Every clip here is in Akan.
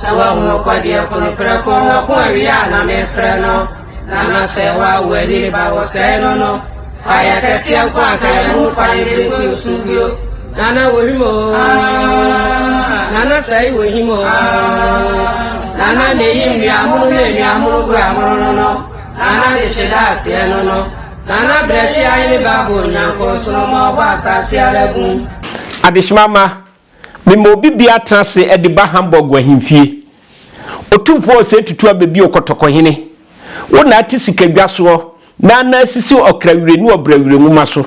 Sɛ woahu ɔkɔdeɛ ko no prɛko ɔko awie a na mefrɛ no na na sɛ woawo ani ne ba wɔsɛe no no kwaeɛ kɛseɛ nko anka yɛ ho kwan bere gu nsu bio nana wɔhim o nana sɛe wɔhim o nana na ɛyi nnuamono ne nnuamono gu amono no no nana de hyeda aseɛ no no Ghana Brɛhyia Hene Baboo Nyankoo Nsono ma ɔbɔ asaase ara bum. Adehyema mma, mema obi biara tena ase de ba Hamburg ahemfie. Otumfoɔ a ɔsɛe tutu abɛbio kɔtɔkɔhene. Wo na ate sika dwa soɔ na anan asisi ɔkra wire ne ɔbra wire nwoma so.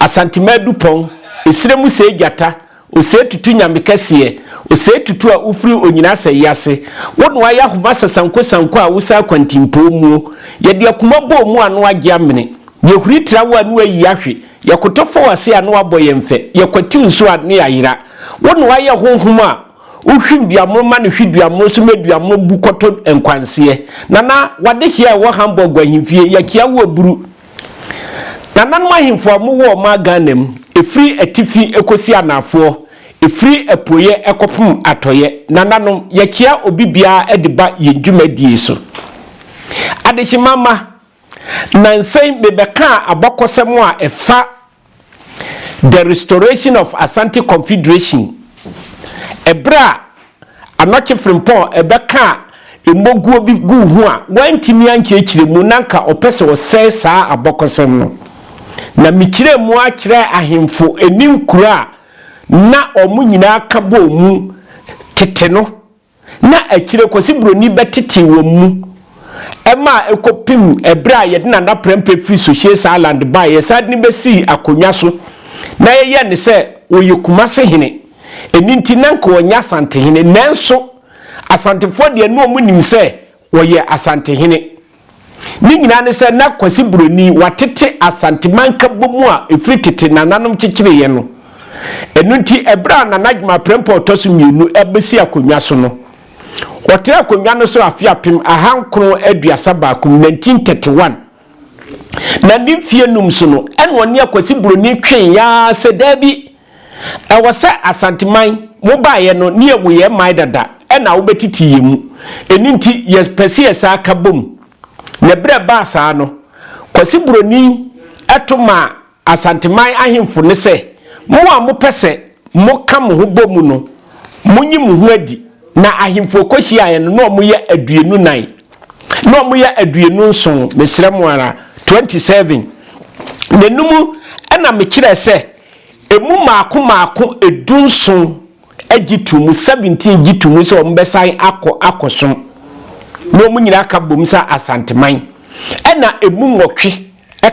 Asantema adupɔn, esire mu sɛe gyata, Osei Tutu Nyame kɛseɛ Osei Tutu a wofiri Onyina Asɛeɛ ase Wo na woayɛ ahoma sɛ sanko sanko a wosan akwantimpɔɔ muo Yɛde akuma bɔɔ mu a na woagye amene Yɛhuri tra wo a ne woayi ahwe Yɛkoto fa w'ase a ne woabɔ yɛn fɛ Yɛkwati wo nso a ne yɛayera Wo na woayɛ honhom a wohwim duamono ma no hwe duamono so ma duamono bu kɔto nkwanseɛ Nana w'adehyeɛ a ɛwɔ Hamburg ahemfie Yɛkyea wo aburu Nananom ahemfo a wɔwɔ ɔman Ghana mu, ɛfiri atifi kɔsi anaafoɔ, ɛfiri apueɛ kɔpem atɔeɛ, nananom, yɛkyea obi biara de ba yɛn dwumadie so. Adehyema mma, nansa yi mebɛkaa abakɔsɛm a ɛfa The Restoration of Asante Confederation, Ɛberɛ a Anɔkye Frimpong bɛkaa mmɔguo bi guu ho a wantumi ankyerɛkyerɛ mu na anka ɔpɛ sɛ ɔsɛe saa abɔkɔsɛm no. Na mekyerɛɛ mu ara kyerɛɛ ahemfo ne nkuro a na wɔn nyinaa ka bɔɔ mu tete no na akyire Kwasi Buroni bɛtetee wɔn mu ma ɛkɔpem ɛberɛ a yɛde Nana Prɛmpɛ firi Sohyies Island baeɛ, yɛsan de no bɛsii akonnwa so na yɛyɛɛ no sɛ ɔyɛ Kumase hene, ɛno nti na anka ɔnyɛ Asantehene, nanso Asantefoɔ deɛ na wɔnim sɛ Wɔyɛ Asantehene. Ne nyinaa ne sɛ na Kwasi Buroni watete Asante mankabɔ mu a ɛfiri tete nananom kyekyereeɛ no. Ɛno nti ɛberɛ a Nana Gyimah Prempeh ɔtɔ so mmienu abɛsi akonnwa so no, ɔtenaa akonnwa no so afe apem aha nkron aduasa baako, 1931, Na ne mfeɛ nnum so no, ɛna ɔne Akwasi Buroni tweeɛ ara sɛ, Daabi, ɛwɔ sɛ Asanteman, wo baeɛ no, ne yɛn wo yɛn man dada, ɛna wobɛtete yɛn mu. Ɛno nti, yɛpɛ sɛ yɛsan aka bom. Na berɛ a ɛbaa saa no, Kwasi Buroni to maa Asanteman ahemfo ne sɛ, Mo a mopɛ sɛ moka mo ho bɔ mu no, monyi mo ho adi. Na ahemfo a wɔkɔhyiaeɛ no, na wɔyɛ aduonu nan, na wɔyɛ aduonu nson, mesrɛ mo ara, 27, na ɛno mu na mekyerɛɛ sɛ ɛmu mmaako mmaako du nson gye too mu, 17 gye too mu sɛ wɔbɛsan akɔ akɔsom, na wɔn nyinaa ka bom sɛ Asanteman, ɛnna ɛmu nwɔtwe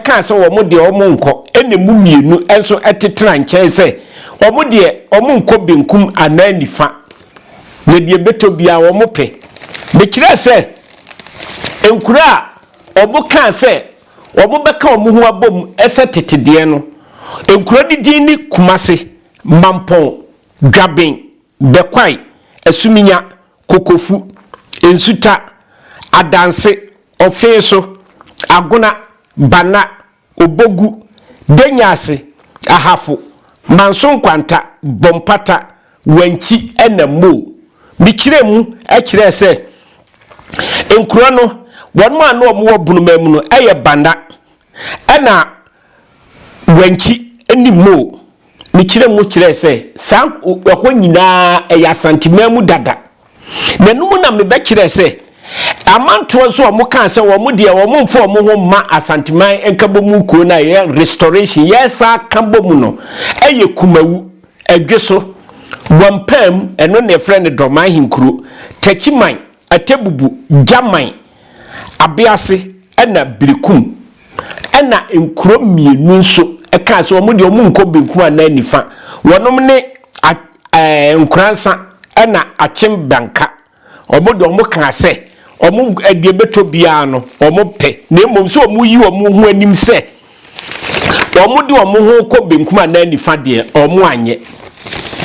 kaa sɛ wɔn deɛ wɔn nkɔ ɛna ɛmu mmienu nso te tena nkyɛn sɛ wɔn deɛ wɔn nkɔ benkum anaa nifa na deɛ ɛbɛtɔ biara wɔn pɛ. Mekyerɛɛ sɛ nkuro a wɔn kaa sɛ wɔn bɛka wɔn ho abom sɛ tete deɛ no, nkuro no din ne Kumase, Mampɔn, Dwaben, Bɛkwae, Asuminya, Kokofu, Nsuta, Adanse, Ofeeso, Agona, Bana, Obogu, Denyaase, Ahafo, Manso Nkwanta, Bompata, Wankyi na Moo. Mekyerɛɛ mu kyerɛɛ sɛ nkuro no wɔn a na wɔwɔ Bunuma mu no yɛ Bana, Ɛna Guanchi ne Mou no kyerɛɛ mu kyerɛɛ sɛ saa ɛhɔ nyinaa ɛyɛ Asanteman mu dada. Na ɛno mu na mebɛkyerɛɛ sɛ amantoɔ nso a wɔkaa sɛ wɔn deɛ wɔmfa wɔn ho mma Asanteman nkabɔmu nkuo no a ɛyɛ restoration yɛresan ka bom no ɛyɛ Kumawu, Ɛdweso, Boampaam, ɛno na yɛfrɛ no Dorman Ahenkuro, Takyiman, Atebubu, Gyaman, Abease ɛna Berekum ɛna nkuro mmienu nso kaa sɛ wɔn deɛ wɔn nkɔ benkum anaa nifa. Wɔnom ne Nkoransa ɛna Akyem Banka. Wɔn deɛ wɔn kaa sɛ wɔn deɛ ɛbɛtɔ biara no wɔn pɛ na mmom sɛ wɔn yi wɔn ho anim sɛ Wɔde wɔn ho rekɔ benkum anaa nifa deɛ, wɔanyɛ.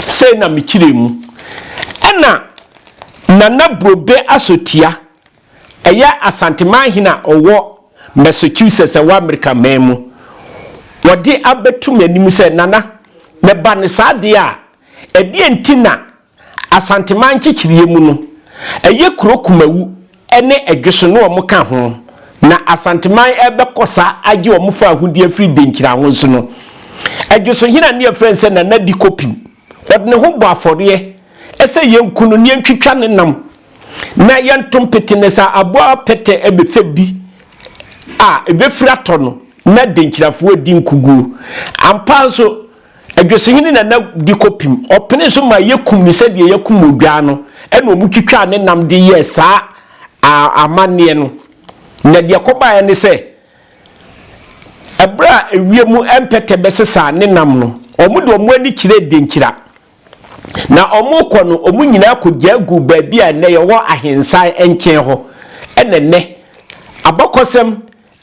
Sei na mekyerɛɛ mu. Ɛna Nana Brobe Asotia, ɛyɛ Asanteman hene a ɔwɔ Massachusetts a ɛwɔ Amerika man mu, wɔde abɛto m'anim sɛ, Nana, meba no saa deɛ a, ɛdeɛn nti na Asanteman nkyekyereɛ mu no, ɛyɛ kuro Kumawu ne Ɛdweso ne wɔn ka ho, na Asanteman rebɛkɔ sa agye wɔn fawohodie afiri Denkyiraho so no, Ɛdwesohene a ne yɛfrɛ no sɛ Nana Di Kopim, ɔde ne ho bɔ afɔreɛ sɛ yɛnku no na yɛntwitwa ne nam na yɛnto mpete na sɛ aboa pɛtɛ bɛfɛ bi a, ɛbɛfiri atɔ no na Denkyirafoɔ adi nkuguo. Ampa ara nso, Adwosehene Nana de kɔpim, ɔpenee so maa yɛkum no sɛdeɛ yɛkum odwaa no, ɛna wɔtwitwaa ne nam de yɛɛ saa amanneɛ no. Na deɛ ɛkɔbaeɛ ne sɛ, ɛberɛ a ewiem mpɛtɛ bɛsesaa ne nam no, wɔde wɔn ani kyerɛɛ Denkyira. Na wɔrekɔ no, wɔn nyinaa kɔgyaa guu baabi a ɛnnɛ yɛwɔ Ahensan nkyɛn hɔ. Ɛna ɛnnɛ, abakɔsɛm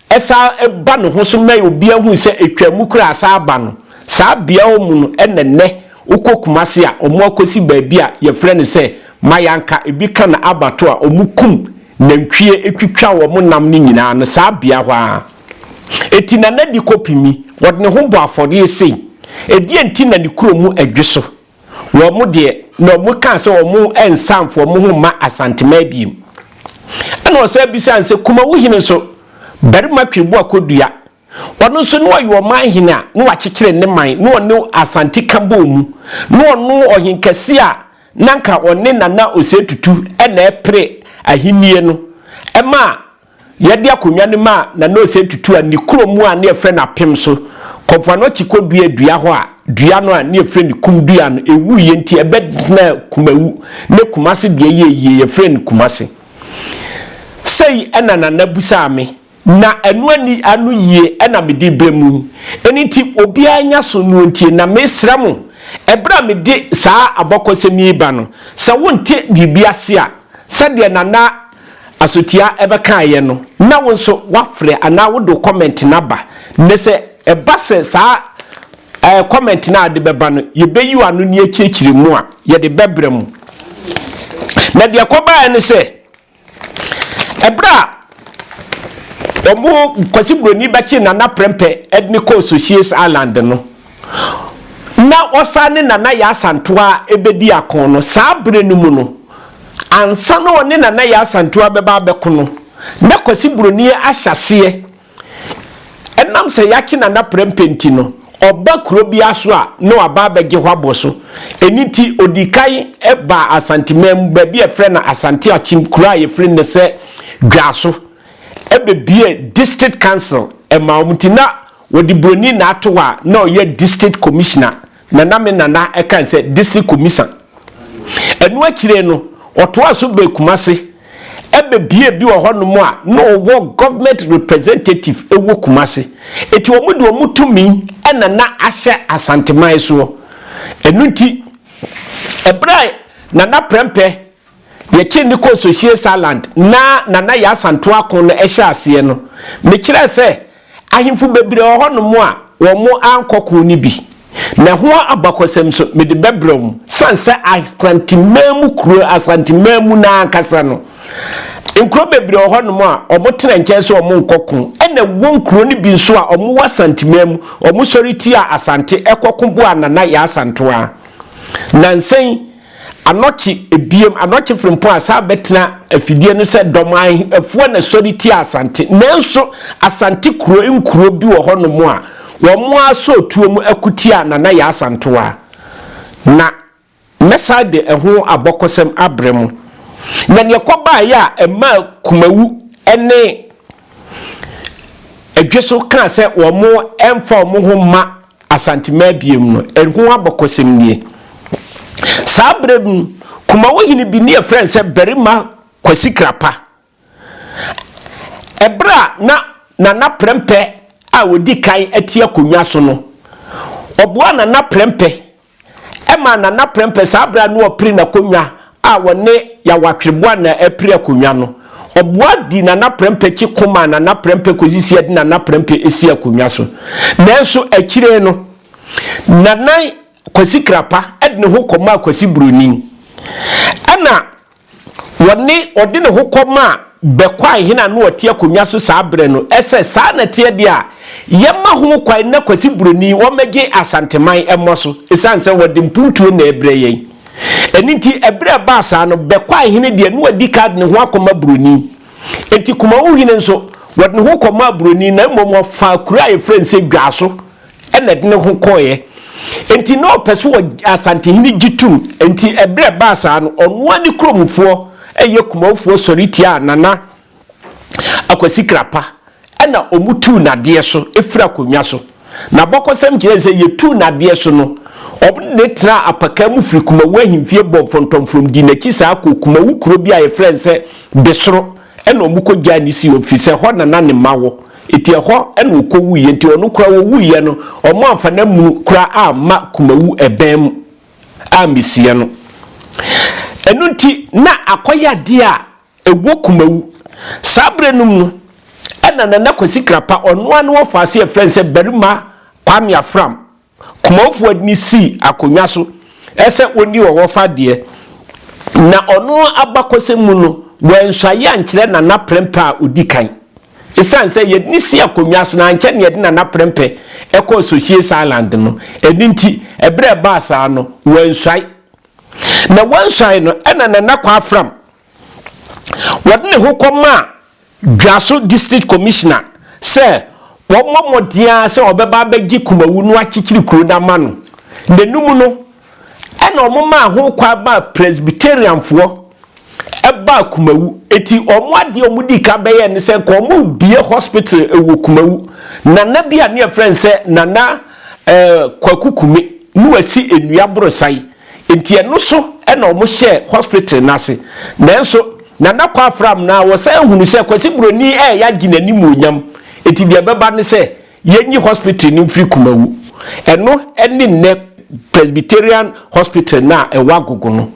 ɛsan ba ne ho so ma obiara hu sɛ ɛtwaa mu koraa asan aba no, saa beaɛ hɔ mu no na nnɛ wokɔ Kumasi a ɔmo akɔsi baabi a yɛfrɛ no sɛ Mayanka, ɛbi ka no Abattoir a ɔmo kum nantwie twitwa wɔn nam no nyinaa no saa beaɛ hɔ ara ɛti na Nadi kɔpimi wɔde ne ho bɔ afɔreɛ sei, ɛdeɛn nti na ne kuro mu ɛdwe so? Wɔn deɛ, na wɔkaa sɛ wɔrensan wɔn ho mma Asantemaa bio. Ɛnna ɔsan bisaa no sɛ, Kumawu hene nso, barima Tweboa Kodua, ɔno nso na ɔyɛ ɔman hene a na wakyekyere ne man na ɔne Asante ka bɔɔ mu, na ɔno ɔhenkɛse a na anka ɔne Nana Osei Tutu na ɛrepere ahennie no maa Yɛde akonnwa no maa Nanaose tutuu ne kurom mu a na yɛfrɛ no Apem so, kɔ mpoano akyi kɔduaa dua hɔ a dua no a na yɛfrɛ no Kum dua no, ɛwuiɛ nti ɛbɛtenaa Kumawu ne Kumase deɛ ɛyɛɛ yie, yɛfrɛɛ no Kumase. Sei na Nana bisaa me, na ɛno ani ano yie na mede rebrɛ mo yi. Ɛno nti obiara nyɛ aso na ɔntie, na mesrɛ mo, ɛberɛ a mede saa abɔkɔsɛm yi reba no, sɛ wonte biribi ase a, sɛdeɛ Nana asotia ɛbɛkaeɛ no na wo nso wafrɛ anaa wode wo comment no aba nnɛ sɛ ɛba sɛ saa ɛɛ comment no a de bɛba no yɛbɛyi w'ano ne akyirikyiri mu a yɛde bɛbrɛ mu na deɛ kɔbaeɛ no sɛ ɛberɛ a wɔn kwasi buroni bɛkye nana prɛmpɛ ɛde ne kɔɔ Socias Island no na ɔsan ne Nana Yaa Asantewaa rebɛdi ako no, saa berɛ no mu no, ansa na ɔne Nana Yaa Asantewaa bɛba abɛko no, na Kwasi Buroni ahyɛ aseɛ, ɛnam sɛ yɛakye Nana Prɛmpɛ nti no, ɔba kuro biara so a, na waba abɛgye hɔ abɔ so. Ɛno nti, ɔdii kan baa Asanteman mu, baabi a yɛfrɛ no Asante Akyem, kuro a yɛfrɛ no nnɛ sɛ Dwaso, ɛbɛbuee District Council maa wɔn, nti na Wɔde buroni na ato hɔ a na ɔyɛ district commissioner, Nana me Nana ɛka nsɛ district commisan. Ɛno akyire no ɔtoaa so bɛɛ Kumase ɛbɛ bie bi wɔ hɔ nom a na ɔwɔ government representative ɛwɔ Kumase. Ɛti wɔn de wɔn tumi ɛna na ahyɛ Asanteman soɔ. Ɛno nti ɛberɛ a Nana Prɛmpɛ Yɛkyere no kɔɔ Sohyie Saland na na na yɛn asantoa ako no hyɛ aseɛ no, mekyerɛɛ sɛ ahemfo bebree wɔ hɔnom a wɔankɔ ko no bi, na ɛho abakɔsɛm nso mede bɛbrɛ wɔn. Ɛsiane sɛ Asante manmu kuro, Asante manmu no ara ankasa no, nkuro bebree wɔ hɔnom a wɔtena nkyɛn sɛ wɔnkɔ ko, ɛna ɛwɔ nkuro no bi nso a wɔwɔ Asante manmu, wɔsɔre tiaa Asante kɔko boaa na na yɛn asantoa. Nansa yi, Anɔkye ebiem, anɔkye frempɔn a saa bɛtena afidie no sɛ dɔm a afuo na ɛsɔre tia Asante. Nanso Asante kuro nkuro bi wɔ hɔnom a wɔn ara sɔ otuo mu ko tia Nana Yaa Asantewaa. Na mɛsan de ɛho abɔkɔsɛm abrɛ mo. Na deɛ ɛkɔbaeɛ a ɛmaa Kumawu ne Adweso kaa sɛ wɔn mfa wɔn ho mma Asante Mmabea mu no, ɛho abakɔsɛm nie, Saa berɛ no, Kumawo hene bi ne yɛfrɛ no sɛ Barima Kwasi Krapa. Ɛberɛ a na Nana Prɛmpɛ a ɔdi kan te akonnwa so no, ɔboaa Nana Prɛmpɛ Ɛmaa Nana Prɛmpɛ saa berɛ a na ɔpere n'akonnwa a ɔne Yawatwere Boanaa apire akonnwa no, ɔboa dii Nana Prɛmpɛ akyi ko maa Nana Prɛmpɛ kɔsi sɛ yɛde Nana Prɛmpɛ sii akonnwa so. Nanso akyire no, Nana Kwasi Krapa de ne ho kɔmaa Kwasi Buroni. Ɛnna Wɔne ɔde ne ho kɔmaa Bɛkwae hene a na ɔte akonnwa so saa berɛ no sɛ, Saa na ɛteɛ deɛ a, yɛmma ho kwan na Kwasi Buroni wɔmmɛgye Asanteman mmɔ so, ɛsiane sɛ wɔde mpuntuo na ɛrebrɛ yɛn. Ɛno nti, ɛberɛ a ɛbaa saa no, Bɛkwae hene deɛ, na wadi kan de ne ho akɔma Buroni. Enti Kumawohene nso, wɔde ne ho kɔmaa Buroni, na mmom wɔfaa kuro a yɛfrɛ no sɛ Dwaso na ɛde ne ho kɔeɛ. Enti na ɔpɛ sɛ ɔgye Asantehene gye tom. Enti ɛberɛ a ɛbaa saa no, ɔno ara ne kuromfoɔ ɛyɛ Kumawfoɔ sɔre tiaa Nana Akwasi Krapa na wɔtuu no adeɛ so firi akonnwa so. N'abakɔsɛm kyerɛ sɛ yɛtuu no adeɛ so no, wɔde no tenaa apakaa mu firi Kumawu ahemfie bɔɔ fɔntɔmfrɔm dii n'akyi saa kɔɔ Kumawu kuro bi a yɛfrɛ no sɛ Besoro. Ɛna wɔkɔgyaa no Sion, firi sɛ ɛhɔ na na ne mma wɔ. Enti ɛhɔ na ɔkɔwuiɛ. Enti ɔno koraa ɔwuiɛ no, wɔamfa n'amunu koraa amma kumawu ɛbɛn mu ammɛsie no. Ɛno nti, na akɔyadeɛ a ɛwɔ kumawu. Saa berɛ no mu no, ɛna Nana Kwasi Krapa, ɔno ara ne wɔfaa aseɛ frɛ no sɛ Barima Kwame Afram Kumanfoɔ de no sii akonnwa so sɛ ɔnni ɔwɔfa deɛ, na ɔno abakɔsɛm mu no, wansu ayɛ ankyerɛ Nana Prɛmpɛ a ɔdi kan. Ɛsiane sɛ yɛde no sii akonnwa so na ankyɛ na yɛde Nana Prɛmpɛ kɔɔ Socias Island no, ɛno nti, ɛberɛ a ɛbaa saa no, wansuae. Na wansuae no, ɛnna Nana Kwaa Fram Wɔde ne ho kɔmaa Dwaso District Commissioner sɛ wɔmmɔ mmɔden ara sɛ wɔbɛba abɛgye Kumawu no akyekyere kuro no ama no. N'anum no, ɛna wɔmaa ho kwan maa Presbyterianfoɔ baa Kumawu. Enti wɔn adeɛ a wɔdii kan bɛyɛɛ ne sɛ nka wɔrebue hospital wɔ Kumawu. Nana bi a ne yɛfrɛ no sɛ Nana eh, Kwaku Kume ne wasi nnua borosae. Nti ɛno so na ɔmo hyɛɛ hospital no ase. Nanso Nana Kwafra Amnah wɔsan hunu sɛ Kwasi Broni ɛɛyɛ agye n'animuonyam, nti deɛ ɛbɛba ne sɛ yɛnyi hospital no mfiri Kumawu. Ɛno ne nnɛ Presbyterian Hospital no a ɛwɔ Agogo no.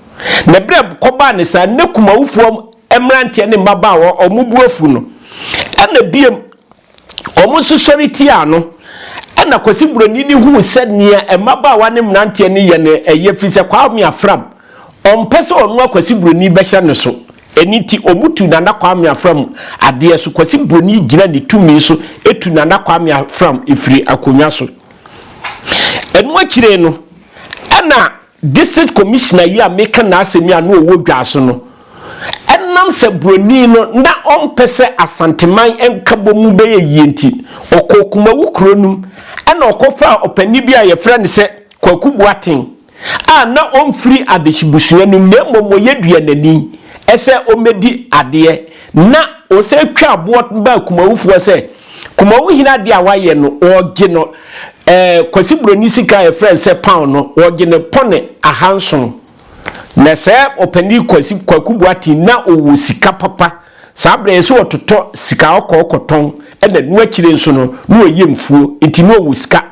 Na berɛ a ɛkɔbaa ne saa no na Kumawufoɔ mmeranteɛ ne mmabaawa ɔmo bo afu no, ɛna biom Wɔn nso sɔre tiaa no. Ɛnna Kwasi Buroni no huu sɛ nea mmabaawa ne mmeranteɛ no yɛ no ye ɛfiri sɛ Kwame Afram, ɔmpɛ sɛ ɔnoa Kwasi Buroni bɛhyɛ no so. Ɛno nti, wɔtu Nana Kwame Afram adeɛ so. Kwasi Buroni gyina ne tumi so tu Nana Kwame Afram firi akonnwa so. Ɛno akyire no, ɛnna District Commissioner yi a meka n'asɛm yi a na ɔwɔ Dwaso no, ɛnam sɛ buroni no na ɔmpɛ sɛ Asanteman nkabɔ mu bɛyɛ yie nti, ɔkɔɔ Kumawu kuro no mu ɛna ɔkɔfaa ɔpanin bi a wɔfrɛ no sɛ Kwaku Boaten a na ɔmfiri Adehye busua no mu na mmom ɔyɛ Duanani sɛ ɔmmɛdi adeɛ na ɔsan twaa boɔ baa Kumawufoɔ sɛ Kumawu hene adeɛ a wayɛ no wɔgye no eh, Kwasi Buroni sika a yɛfrɛ no sɛ pound no wɔgye no pɔne ahanson. Na sɛ ɔpanin Kwasi Kwaku Boateng na ɔwɔ sika papa saa berɛ yɛsɛ ɔtotɔ sika ɔkɔ ɔkɔtɔn ɛna no akyire nso no na wɔyɛ mfuo nti na ɔwɔ sika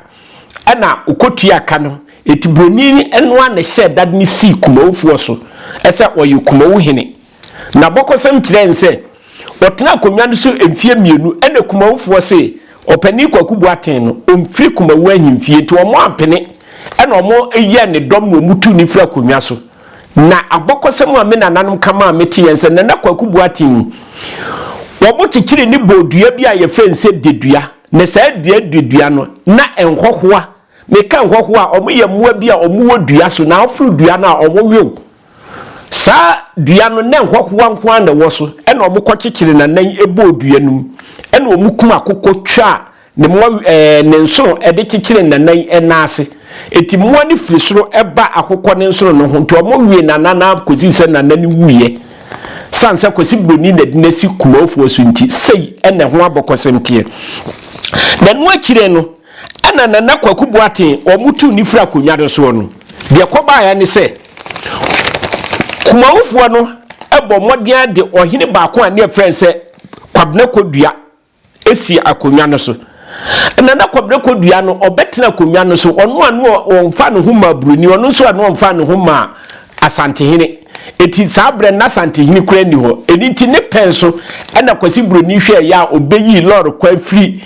ɛna ɔkɔtua ka no ɛti Buroni ɛno a na ɛhyɛ dade no sii Kumawufoɔ so ɛsɛ ɔyɛ Kumawu hene. N'abakɔsɛm kyerɛɛ no sɛ ɔtenaa akonnwa no so mfeɛ mmienu ɛna Kumawofoɔ see Ɔpanin Kwaku Boateng no ɔmfiri Kumawu ahemfie nti wɔn ampene ɛna wɔn yɛɛ ne dɔm na wɔn tuu no firi akonnwa so. Na abakɔsɛm a me nananom ka maa me teɛ nsɛ Nana Kwaku Boateng ni. Wɔn kyekyere ne bɔɔ dua bi a yɛfrɛ no sɛ Dedua na saa dua Dedua no na nhɔhoa, me ka nhɔhoa a wɔn yɛ mmoa bi a wɔn wɔ dua so na aforo dua no a wɔn wew Saa dua no, na nhɔhoa nko ara na ɛwɔ so. Ɛnna wɔkɔkyekyeree n'anan bɔɔ dua no mu. Ɛnna wɔkum akokɔ twaa ne mmoa ɛɛ ne nsono de kyekyeree n'anan nan ase. Enti mmoa no firi soro ba akokɔ no nsono no ho, enti wɔwee n'anan ara kɔsii sɛ n'anan no wuiɛ. Ɛsiane sɛ Kwasi Buroni na de no asi Kumawofoɔ so nti, sei na ɛho abɔkɔsɛm teɛ. Na ɛno akyire no, Ɛna Nana Kwaku Boateng a wɔtuu no firi akonnwa no soɔ no, deɛ ɛkɔbaeɛ ne sɛ, Kumawufoɔ no bɔɔ mmɔden ara de ɔhene baako a ne yɛfrɛ no sɛ Kwabena Kodua sii akonnwa no so. Ɛna na Kwabena Kodua no, ɔbɛtena akonnwa no so, ɔno a na ɔmfa ne ho maa Buroni, ɔno nso a na ɔmfa ne ho maa Asantehene. Enti saa berɛ no na Asantehene koraa nni hɔ. Ɛno nti ne pɛn so na Kwasi Buroni hwɛeɛ a ɔbɛyii lɔɔre kwan firi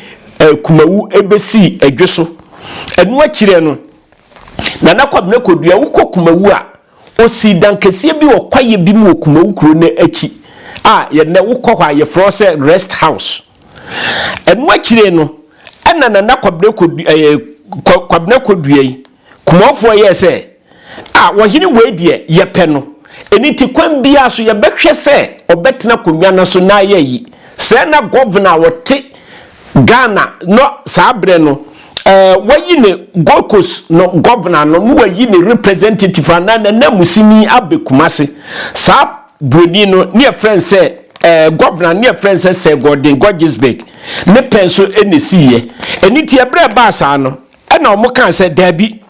Kumawu bɛsii Adwo so. Ɛno akyire no, Nana Kwabena Kodua, wokɔ Kumawu a, ɔsii dan kɛseɛ bi wɔ kwaeɛ bi mu wɔ Kumawu kuro no akyi a yɛnnɛ wokɔ hɔ a yɛfrɛ hɔ sɛ Rest House. Ɛno akyire no, ɛna Nana Kwabena Kodua, Kwabena Kodua yi, Kumɔfoɔ yɛɛ sɛ, A ɔhene wei deɛ, yɛpɛ no, ɛno nti kwan biara so yɛbɛhwɛ sɛ ɔbɛtena akonnwa no so na ayɛ ayi. Sɛɛ na Gɔvena a ɔte Ghana no saa berɛ no, ɛɛ, wɔayi ne Gold Coast no Gɔvena no na wɔayi ne representative anaa n'ananmusini abɛ Kumasi. Saa buroni no, na yɛfrɛ no sɛ, ɛɛ, Gɔvena no, na yɛfrɛ no sɛ Sir Gordon Gorgesbeg ne pɛn so na ɛsiiɛ. Ɛno nti ɛberɛ a ɛbaa saa no, Ɛna wɔkaa sɛ, Daabi,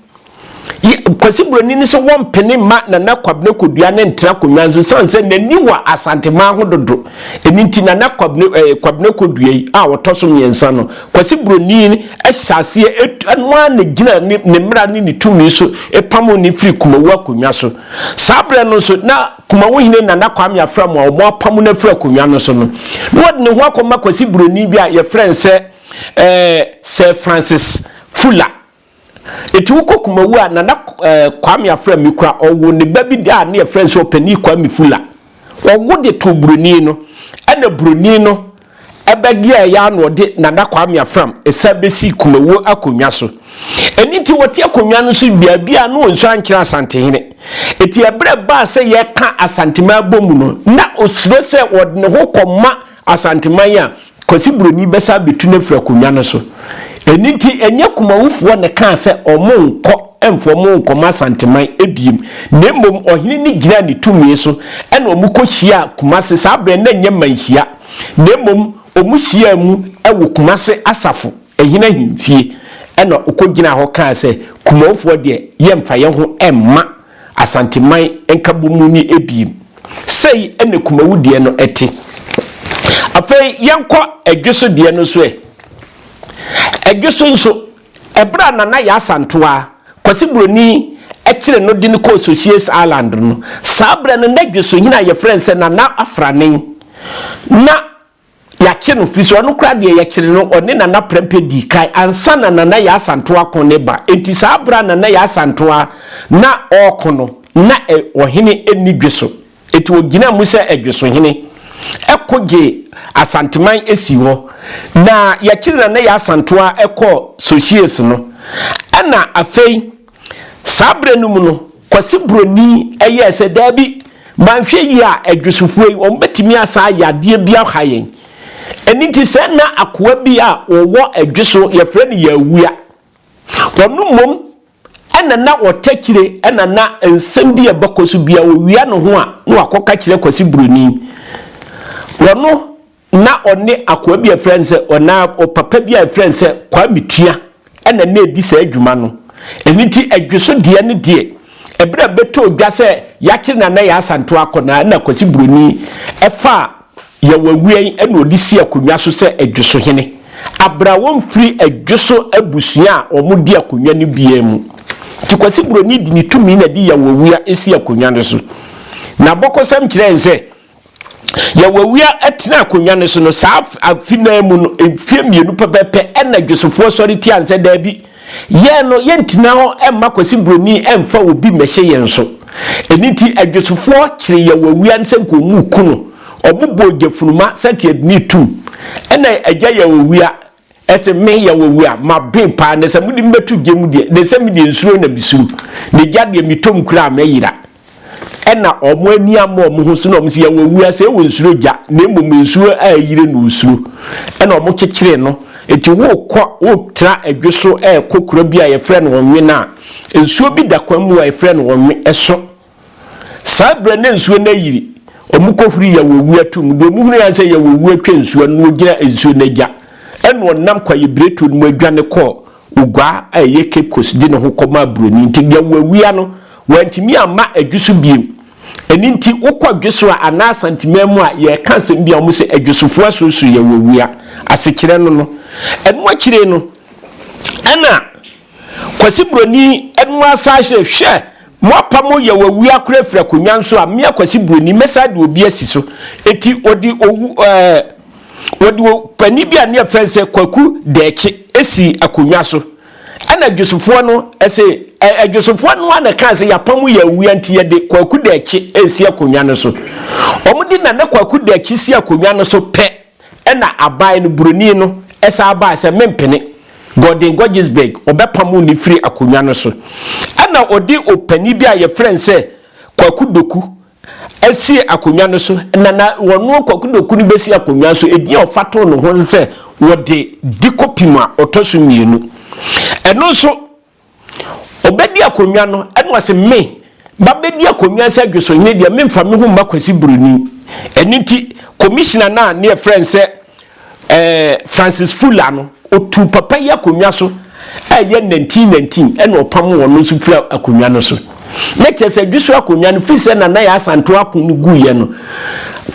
yɛ, Kwasi Buroni no sɛ wɔmpene mma Nana Kwabena Kodua no ntra akonnwa so ɛsiane sɛ n'ani wɔ Asanteman ho dodo. Ɛno nti Nana Kwabena, ɛɛ, Kwabena Kodua yi a ɔtɔ so mmiɛnsa no, Kwasi Buroni hyɛ aseɛ, ɛtu, ɛno ara na ɛgyina ne, ne mmara ne ne tumi so pamoo no firii Kumawu akonnwa so. Saa berɛ no nso, na Kumawu hene Nana Kwame Afram a wɔapamo no afiri akonnwa no so no, na ɔde ne ho akɔma Kwasi Buroni bi a wɔfrɛ no sɛ, Ɛɛ Sir Francis Fuller. Enti wokɔ Kumawu a, Nana ɛɛ Kwame Afrɛ Mikura ɔwo ne ba bi a ne yɛfrɛ no sɛ Ɔpanin Kwame Fuller. Ɔwo de too Buroni no, ɛna Buroni no ɛbɛyɛɛ ya na ɔde Nana Kwame Afram ɛsan bɛsii Kumawu akonnwa so. Ɛno nti ɔte akonnwa no so baabi a na ɔnsu ankyerɛ Asantehene. Enti ɛberɛ baa sɛ yɛka Asanteman bɔ mu no, na ɔsuro sɛ ɔde ne ho kɔma Asanteman a Kwasi Buroni bɛsan abetu no afiri akonnwa no so. Ɛno nti, ɛnyɛ Kumawufoɔ na ɛkaa sɛ wɔnkɔ mfa wɔn nkɔma Asanteman bio, na mmom ɔhene no gyinaa ne tumi so na wɔkɔhyiaa Kumase. Saa berɛ no, na ɛnyɛ mmanhyia, na mmom wɔhyiaa mu wɔ Kumase asafo hene ahemfie, ɛnna ɔkɔgyinaa hɔ kaa sɛ, Kumawufoɔ deɛ, yɛmfa yɛn ho mma. Asanteman Nkabom mu ni abien. Sei na Kumawu deɛ no te. Afei yɛnkɔ Ɛdweso deɛ no nso ɛ. Ɛdweso nso, ɛberɛ a Nana Yaa Asantewaa, Kwasi Buroni, kyere no de no kɔɔ Socias Island no, saa berɛ no na Ɛdwesohene a yɛfrɛ no sɛ Nana Afranen na Yɛakye no firi sɛ ɔno koraa deɛ yɛkyere no ɔne Nana Prɛmpɛ dii kan ansa na Nana Yaa Asantewaa ako ne ba enti saa berɛ a Nana Yaa Asantewaa na ɔreko no na ɛ ɔhene nni dwe so enti ɔgyinaa mu sɛ ɛ dwesohene ko gyee Asanteman sii hɔ na yɛkyere Nana Yaa Asantewaa kɔɔ Sohyies no ɛna afei Saa berɛ no mu no, Kwasi Buroni yɛɛ sɛ, Daabi, manhwɛ yie a, adwesofoɔ yi, wɔbɛtumi asan ayɛ adeɛ bi aha yɛn. Ɛno nti, sɛ nna akoa bi a ɔwɔ Adweso, yɛfrɛ no Yawua. Ɔno mmom na na ɔtakyire na na nsɛm bi a ɛbɛkɔ so biara, ɔwia ne ho a, na wakɔka kyerɛ Kwasi Buroni. Ɔno na ɔne akoa bi a ɛfrɛ no sɛ ɔnaa ɔpapa bi a ɛfrɛ no sɛ Kwame Tua ɛna na ɛdi saa adwuma no. Ɛno nti ɛdweso deɛ no deɛ ɛberɛ a bɛtɔɔ dwa sɛ yɛakyere no anaa yɛasanto akɔ no a ɛna Kwasi Buroni ɛfaa Yɛwawiɛn ɛna ɔde sii akonnwa so sɛ ɛdweso hene. Abrɛ a wɔmfiri ɛdweso abusua a wɔn di akonnwa no biara mu. Nti Kwasi Buroni de ne tumi na ɛde Yɛwawia ɛsii akonnwa no so. N'abɔkɔsɛm kyerɛ yɛn sɛ Yawowia tenaa akonnwa no so no, saa afe no ara mu no, mfeɛ mmienu pɛpɛɛpɛ na Dwosofoɔ sɔre tiaa no sɛ, Daabi, yɛn no, yɛntena hɔ mma Kwasi Buroni mfa obi mmɛhyɛ yɛn so. Ɛno nti, Adwosofoɔ kyeree Yawowia no sɛ nka wɔnku no. Wɔbobɔɔ Gyafunuma, Sakiadini, tum. Ɛnna Agya Yawowia Ɛse me yɛ wɔ wura maben paa na sɛ mode me bɛto gya mu deɛ na sɛ me deɛ nsuro na mesuro na gya deɛ metɔ mu koraa mɛyera. Ɛna wɔn ani ama wɔn ho so na wɔn se yɛ wɔ wura sɛ ɔnsuro gya na mmom nsuo a ayire na ɔsuro. Ɛna wɔn kyekyere no nti worekɔ woretena adwo so ɛrekɔ kuro bi a yɛfrɛ no Ɔnwe no a nsuo bi da kwan mu a yɛfrɛ no Ɔnwe ɛso. Saa berɛ na nsuo no ayiri, wɔkɔhuri Yawowu ato mu. Deɛ wɔhunui ara ne sɛ Yawowu atwa nsuo no na ɔgyina nsuo no agya. Ɛnna ɔnam kwaebiretuo no mu adwane kɔɔ oguaa a ɛyɛ Cape Coast de ne ho kɔmaa buroni nti Yawowua no, wantumi amma adwo so bio. Ɛno nti, wokɔ dwo so a, anaa Asanteman mu a, yɛreka asɛm bi a wɔse adwosofoɔ asoso Yawowua. Asekyerɛ no no. Ɛno akyire no, ɛnna Kwasi Buroni no asan hwɛ, hwɛ! Mo apa mo yaw awu akora afiri akonwan so a, me Akwasi Buroni mɛsan de obi asi so. Enti wɔde owu ɛɛ wɔde o panin bi a ne yɛfrɛ sɛ Kwaku Dɛɛkye asi akonwa so. Ɛna Adwosofoɔ no ɛse ɛ Adwosofoɔ no ara na ɛkaa sɛ yɛapa mo yaw awua nti yɛde Kwaku Dɛɛkye ɛresi akonwa no so. Wɔde Nana Kwaku Dɛɛkye si akonwa no so pɛ Ɛna aban no buroni no san bae sɛ mempene. Gordon Gorgisberg, wɔbɛpamoo no firii akonnwa no so. Ɛna wɔde ɔpanin bi a wɔfrɛ no sɛ Kwaku Doku sii akonnwa no so, na na wɔno Kwaku Doku no bɛsi akonnwa no so. Edin a wɔfa too ne ho ne sɛ wɔde Dikopim a ɔtɔ so mmienu. Ɛno nso. Ɔbɛdi akonnwa no, ɛna ɔse, Me, mabɛdi akonnwa sɛ Dwosohene deɛ, memfa me ho mma Kwasi Broni. Ɛno nti, Commissioner no a ne yɛfrɛ no sɛ eh, Francis Fuller no, ɔtuu papa yi akonnwa so a ɛyɛ nantin nantin, ɛna ɔpamoo ɔno nso firii akonnwa no so. na kyerɛ sɛ dwoso akonnwa no firi sɛ Nana Yaa Asantewaa ako no guiɛ no,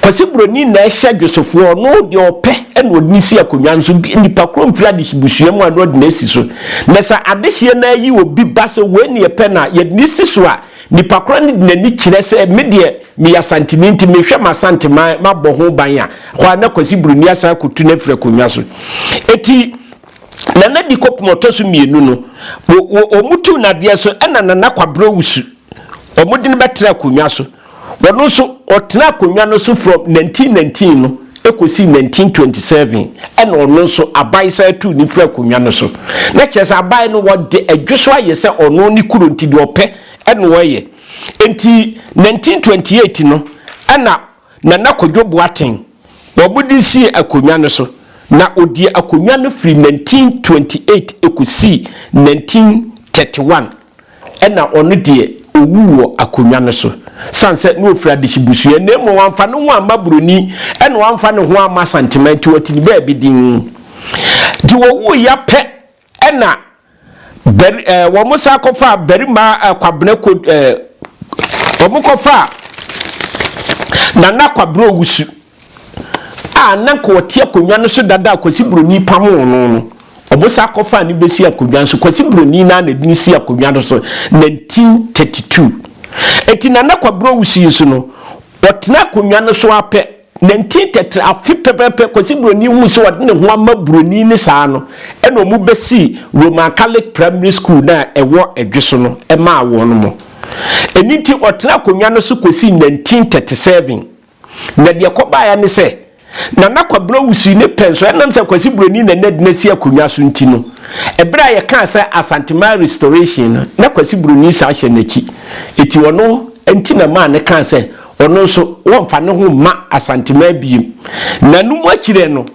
Kwasi Broni na ɛhyɛ dwosofoɔ, ɔno deɛ ɔpɛ na ɔde no si akonnwa no so, nipa korɔ mfiri adehyebusua mu a na ɔde no asi so. Na sɛ adehyeɛ no ara yi obi ba sɛ wei na yɛpɛ no a, yɛde no si so a, nipa korɔ no de n'ani kyerɛ sɛ me deɛ meyɛ Asanteni nti mehwɛ m'Asanteman, mabɔ ho ban a, hɔ ara na Kwasi Broni asan akɔtu no afiri akonnwa so. Enti. Nana Di kɔpem ɔtɔ so mmienu no, wɔtuu no adeɛ so ɛna Nana Kwabere Owusu, wɔde no bɛtena akonnwa so. Ɔno nso, ɔtenaa akonnwa no so from 1919 no kɔsii 1927 ɛna ɔno nso aban san tuu no firi akonnwa no so. Na kyerɛ sɛ aban no wɔde adwo so ayɛ sɛ ɔno ne kuro nti deɛ ɔpɛ ɛna ɔyɛ. Nti 1928 no ɛna Nana Kwadwo Boateng na ɔbo de sii akonnwa no so, na ɔdii akonnwa no firi 1928 kɔsii 1931, ɛnna ɔno deɛ, ɔwuu wɔ akonnwa no so, sane sɛ na ɔfiri adehye busua, na mmom wamfa ne ho amma buroni, ɛnna wamfa ne ho amma Asanteman, nti wɔte no baabi dinn. Nti wɔwuiɛ pɛ Ɛnna bari ɛɛ wɔsan kɔfaa barima ɛɛ Kwabena ko ɛɛ wɔkɔfaa Nana Kwabena Owusu a na nka ɔte akonnwa no so dada a Kwasi Buroni pamoo no no. Wɔsan kɔfaa no bɛsi akonnwa no so. Kwasi Buroni no ara na ɛde no sii akonnwa no so 1932. Enti Nana Kwabena Owusu yi nso no, ɔtenaa akonnwa no so ara pɛ Nantin tɛtrɛɛ afe pɛpɛɛpɛ kɔsi Buroni huu sɛ ɔde ne ho ama Buroni no saa no, ɛna wɔbɛsii Roman Catholic Primary School no a ɛwɔ Edwe so no maa wɔn. Ɛno nti ɔtenaa akonnwa no so kɔsii nantin tɛte sɛven. Na deɛ ɛkɔbaeɛ ara ne sɛ, Nana Kwabena Owusu ne pɛn so, ɛnam sɛ Kwasi Buroni na na ɛde no asi akonnwa so nti no, ɛberɛ a yɛkaa sɛ Asantehman Restoration no, na Kwasi Buroni san hyɛ n'akyi. Enti ɔno nti na ɛmaa no kaa sɛ Ɔno nso, wɔmfa ne ho mma Asanteman biem. Nanom akyire no,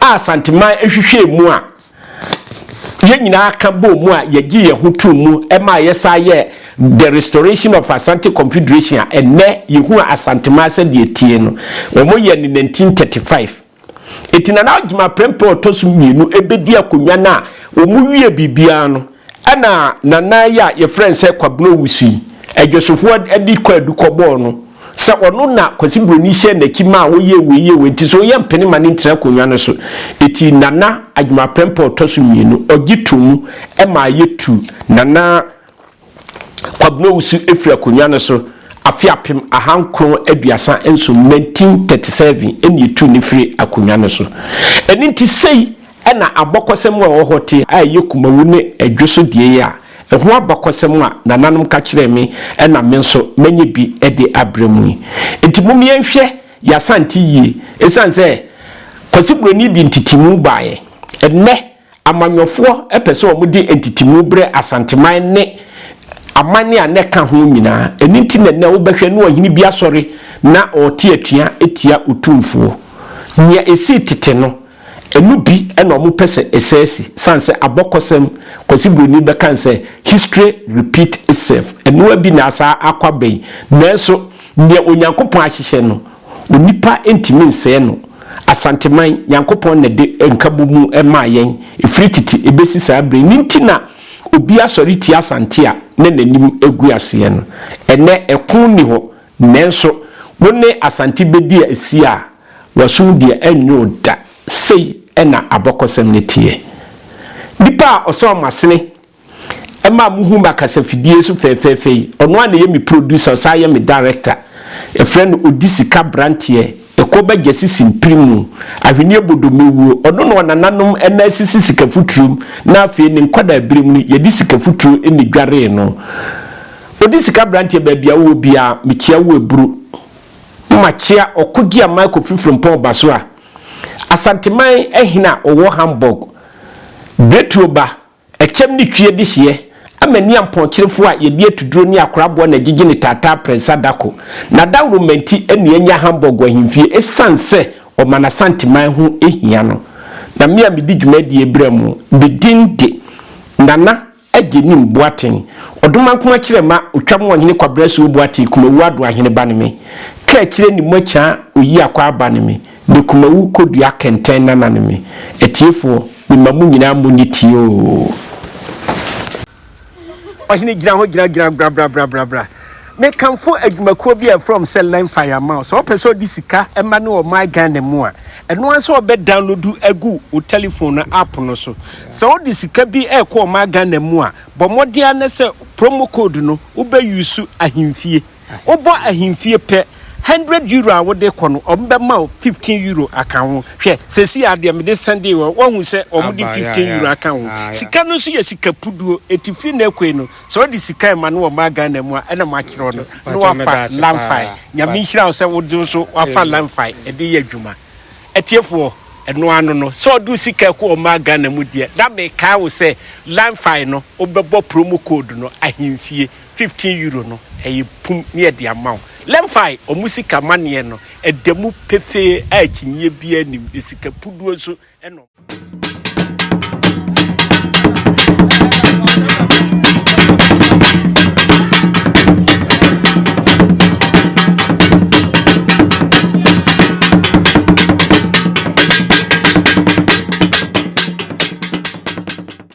a Asanteman hwehwɛɛ mu a yɛn nyinaa ka bɔɔ mu a yɛgye yɛn ho too mu maa yɛsan yɛɛ The Restoration of Asante Confederation a ɛnnɛ yɛhu Asanteman sɛdeɛ ɛtie no, wɔyɛɛ no 1935. Enti Nana Agyeman Prempeh a ɔtɔ so mmienu bɛdi akonnwa no a wɔwie biribiara no na Nana yi a yɛfrɛ no sɛ Kwabena Owusu yi, Adwosofoɔ de kwaadu kɔbɔɔ no sɛ ɔno na Kwasi Buroni hyɛɛ n'akyi maa wɔyɛɛ wei yɛɛ wei nti sɛ ɔyɛ mpene ma no ntena akonnwa no so. Enti Nana Agyeman Prempeh a ɔtɔ so mmienu, ɔgye too mu maa yɛtu Nana Kwabena Owusu firi akonnwa no so afe apem ahankron aduasa nson, 1937, ɛna yɛtuu no firii akonnwa no so. Ɛno nti sei na abɔkɔsɛm a ɛwɔ hɔ te a ɛyɛ kumawu ne ɛdwo so deɛ yi a ɛho abakɔsɛm a nananom ka kyerɛɛ me na me nso manya bi de abrɛ mo yi. Nti mom yɛnhwɛ yɛn asante yie, ɛsiane sɛ Kwasi Buroni de ntetemu baeɛ. Ɛnnɛ. Amanyɔfoɔ pɛ sɛ wɔde ntetemu berɛ Asanteman ne aman a na ɛka ho nyinaa. Ɛno nti na ɛnnɛ wobɛhwɛ na ɔhene bi asɔre na ɔrete atua tia Otumfoɔ. Nea ɛsii tete no, ɛno bi na wɔpɛ sɛ ɛsɛe si, sane sɛ abɔkɔsɛm, Kwasi Broni bɛka no sɛ History repeat itself. Ɛno ara bi na asaa akɔ aba yi. Nanso nea Onyankopɔn ahyehyɛ no, Onipa ntumi nsɛɛ no. Asanteman, Nyankopɔn na ɛde nkabɔ mu maa yɛn, ɛfiri tete ɛbɛsi saa berɛ yi. Ne nti na obi asɔre tia Asante a na n'anim agu aseɛ no. Ɛnnɛ, ɛko nni hɔ. Nanso, wo ne Asante bɛdi asi a, w'asom deɛ ɛrennye wo da. Sei na abɔkɔsɛm no teɛ. Nnipa a ɔsɔɔ mo asene. ɛma muhu m'akasafidie so fɛɛfɛɛfɛ yi. Ɔno a na ɛyɛ me producer, ɔsan yɛ me director. Yɛfrɛ no Odisika Abranteɛ, ɛkɔ ba Gyasi Simpremu, Ahweneɛ Bodomewuo. Ɔno na ɔnananom na asisi Sikafuturom na afei ne nkwadaa berɛm no yɛde Sikafuturo na ɛdwaree no. Odisika Abranteɛ baabi a wowɔ biara mekyea wo aburu. Na makyea Ɔkogyia-Mike Kofi Frimpong Ɔbasoa, Asanteman hene a ɔwɔ Hamburg, Betuo ba, Ɛkyɛm ne twi adi hyeɛ ama ni ampɔnkyerefoɔ a yɛde atuduro ne akoraboɔ na agyigye ne taataa aprɛnsa da ko. N'adawuroma nti na yɛanya Hamburg ahemfie ɛsiane sɛ ɔma n'Asanteman ho hia no. Na me a medi dwumadie berɛ mu, me din de Nana Agyenim Boateng, Ɔdomankoma Kyerɛma Otwam Ɔhene Kwabena Suo Boateng Kumawuo Adoahene ba ne me. Kaakyire Nimuakyaa Oyiakwaa ba ne me. Me kumawu kɔdua kɛntɛn nanane me. Atiefoɔ, mema mo nyinaa monye tie oo. Ɔhene gyina hɔ gyina gyina brabrabrabrabra mekamfo adwumakuo bi a ɛfrɛm sɛ learn fire mao sɛ ɔpɛ sɛ ɔde sika ɛma ne wɔ my Ghana mu a ɛno ara sɛ ɔbɛ download agu wo telephone no app no so sɛ ɔde sika bi ɛkɔ wɔ my Ghana mu a bɔ mmɔden anɛ sɛ promo code no wobɛ use ahemfie Wobɔ ahemfie pɛ, hundred euro a wode kɔ no, wɔbɛma wo fifteen euro aka ho. Hwɛ, seesei ara deɛ mede sɛndee wɔn, woahu sɛ wɔde fifteen euro aka ho. Sika no nso yɛ sika puduo, enti firi nnɛ rekɔ yi no, sɛ wode sika rema no wɔ mmaa Ghana mu a, ɛna makyerɛ wo no, na woafa Lamfae. Nyame nhyira wo sɛ wo nso woafa Lamfae de reyɛ adwuma. Atiefoɔ, ɛno ara no no, sɛ wode wo sika rekɔ wɔ mmaa Ghana mu deɛ, na mekae wo sɛ Lamfae no, wobɛbɔ promo code no, ahemfie. fifteen euro no ɛyɛ pum ne yɛde ama wo Lemfi ɔmo sika maneɛ no ɛda mu pefee a akyinyeɛ biaa nnim na sika puduo nso na ɔmo